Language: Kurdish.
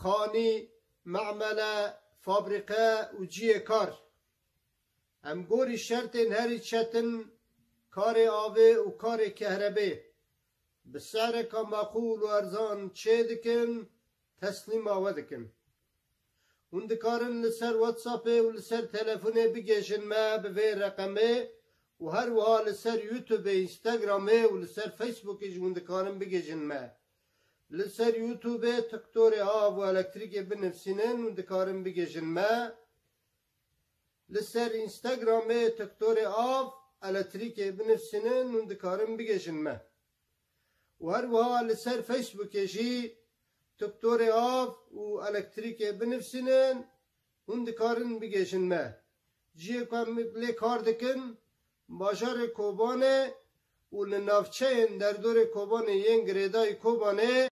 Xanî, memele, fabrîqe û ciyê kar. Em gorî şertên herî çetin karê avê û karê kehrebê bi se'reka meqûl û erzan çê dikin, teslîma we dikin. Hûn dikarin li ser WhatsAppê û li ser telefonê bigêjin me bi vê reqemê û her wiha li ser YouTubeê, Instagramê û li ser Facebookê jî hûn dikarin bigêjin me. Li ser youtubê tiktorê av û elektrîkê binivsînin û dikarin bigihîjin me. Li ser Instagramê tiktorê av, eletrîkê binivsînin û dikarin bigihîjin me. Û her wiha li ser Facebookê jî tiktorê av û elektrîkê binivsînin hûn dikarin bigihîjin me. Cihê ku em lê kar dikin Bajarê Kobanê û li navçeyên derdorê Kobanê yên girêdayî Kobanê.